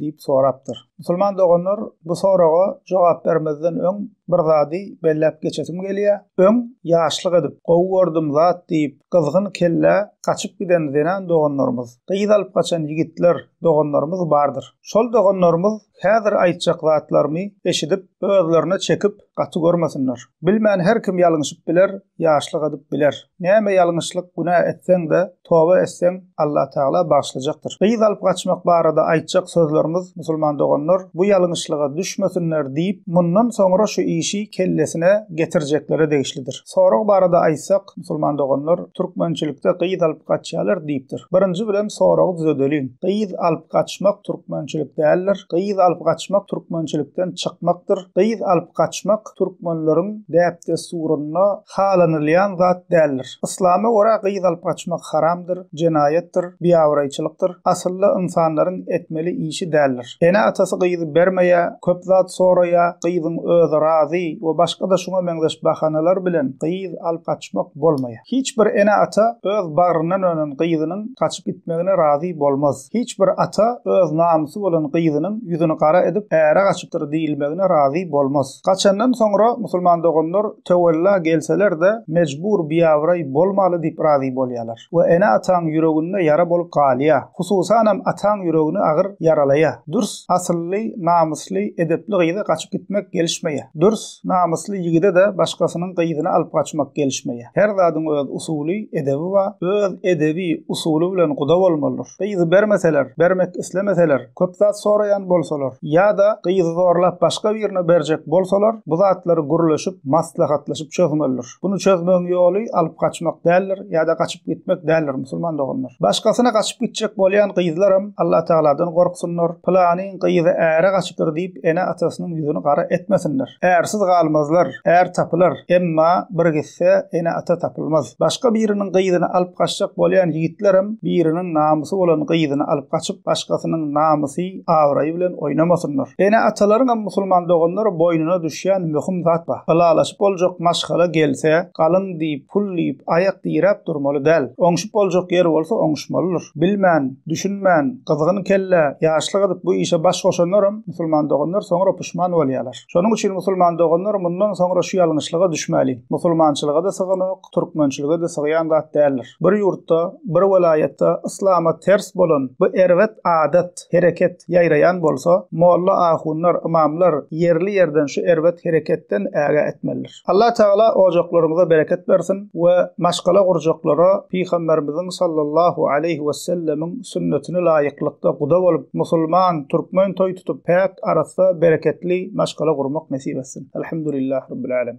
diýip sorapdyr. Musulman doganlar, bu soraga jogap bermezden öň bir zady belläp geçesim gelýär. Öň ýaşlyk edip, gowy gördüm zat diýip, gyzgyn kellä gaçyp giden zenan doganlarymyz, gyz alyp gaçan ýigitler doganlarymyz bardyr. Şol doganlarymyz häzir aýtjak zatlarymy eşidip, özlerine çekip, gaty görmesinler. Bilmän her kim ýalňyşyp biler, ýaşlyk edip biler. Näme ýalňyşlyk, günä etseň-de, toba etseň, Allatagala bagyşlajakdyr. Gyz alyp gaçmak barada aýtjak sözlerimiz, musulman doganlar, bu ýalňyşlyga düşmesinler diýip, mundan soňra şu işi kellesine getirjeklere degişlidir. Sorag barada aýtsak, musulman doganlar, türkmençilikde gyz alyp gaçýarlar diýipdir. Birinji bilen soragy düzedeliň. Gyz alyp gaçmak türkmençilik däldir. Gyz alyp gaçmak türkmençilikden çykmakdyr. Gyz alyp gaçmak, Ýazyjylyk türkmenleriň däp-dessurynda halanylýan zat däldir. Yslama görä gyz alyp gaçmak haramdyr, jenaýatdyr, biabraýçylykdyr, asylda ynsanlaryň etmeli işi däldir. Ene-atasy gyzy bermeýä, köp zat soraýa, gyzyň özi razy we başga-da şuňa meňzeş bahanalar bilen gyz alyp gaçmak bolmaýa. Hiç bir ene-ata öz bagryndan önen gyzynyň gaçyp gitmegine razy bolmaz. Hiç bir ata öz namysy bolan gyzynyň ýüzüni gara edip äre gaçypdyr diýilmegine razy bolmaz. Gaçandan soňra musulman doganlar töwella gelseler-de mejbur biabraý bolmaly diýip razy bolýalar. Bu ene-ataň ýüreginde ýara bolup galýa. Hususanam ataň ýüregini agyr ýaralaýa. Dürs asylly, namysly, edepli gyza gaçyp gitmek gelişmeýä. Dürs. Namysly ýigide-de başgasynyň gyzyny alyp gaçmak gelişmeýär. Her zadyň öz usuly, edebi bar. Öz edebi, usuly bilen guda bolmalydyr. Gyzy bermeseler, bermek islemeseler, köp zat soraýan bolsalar, ýa-da gyzy zorlap başga birine berjek bolsalar, bu zatlary gürleşip, maslahatlaşyp çözmelidir. Bunu çözmegiň ýoly alyp gaçmak däldir ýa-da gaçyp gitmek däldir musulman doganlar. Başgasyna gaçyp gitjek bolýan gyzlaram Allah Tagaladan gorksynlar, pylanyň gyzy äre gaçypdyr diýip ene-atasynyň ýüzüni gara etmesinler. Ärsiz galmazlar, är tapylar, emma bir gitse ene-ata tapylmaz. Başga biriniň gyzyny alyp gaçjak bolýan ýigitlerem biriniň namysy bolan gyzyny alyp gaçyp başgasynyň namysy, abraýy bilen oýnamasynlar. Ene-atalaryňam musulman doganlar boýnuna düşýän möhüm zat bar. Ylalaşyp boljak maşgala gelse, galyň diýip, pul diýip, aýak diräp durmaly däl. Oňşup boljak ýer bolsa oňuşmalydyr. Bilmän, düşünmän, gyzgyn kelle, ýaşlyk edip bu işe baş goşanlaram musulman doganlar soňra puşman bolýarlar. Şonuň üçin musulman doganlar mundan soňra şu ýalňyşlyga düşmäliň. Musulmançylyga-da syganok. türkmençilige-de sygýan zat däldir. Bir ýurtda, bir welaýatda yslama ters bolan bu erbet adat, hereket ýaýraýan bolsa, molla-ahunlar, ymamlar ýerli-ýerden şu erbet hereketden ägä etmelidir. Allatagala ojaklaryňyza bereket bersin we maşgala gurjaklara Pygamberimiziň sallallahu aleýhi wessellemiň sünnetine laýyklykda guda bolup, musulman, türkmen toý tutup, päk, arassa, bereketli maşgala gurmak nesip etsin. Elhamdulillah Rabbil Alemin.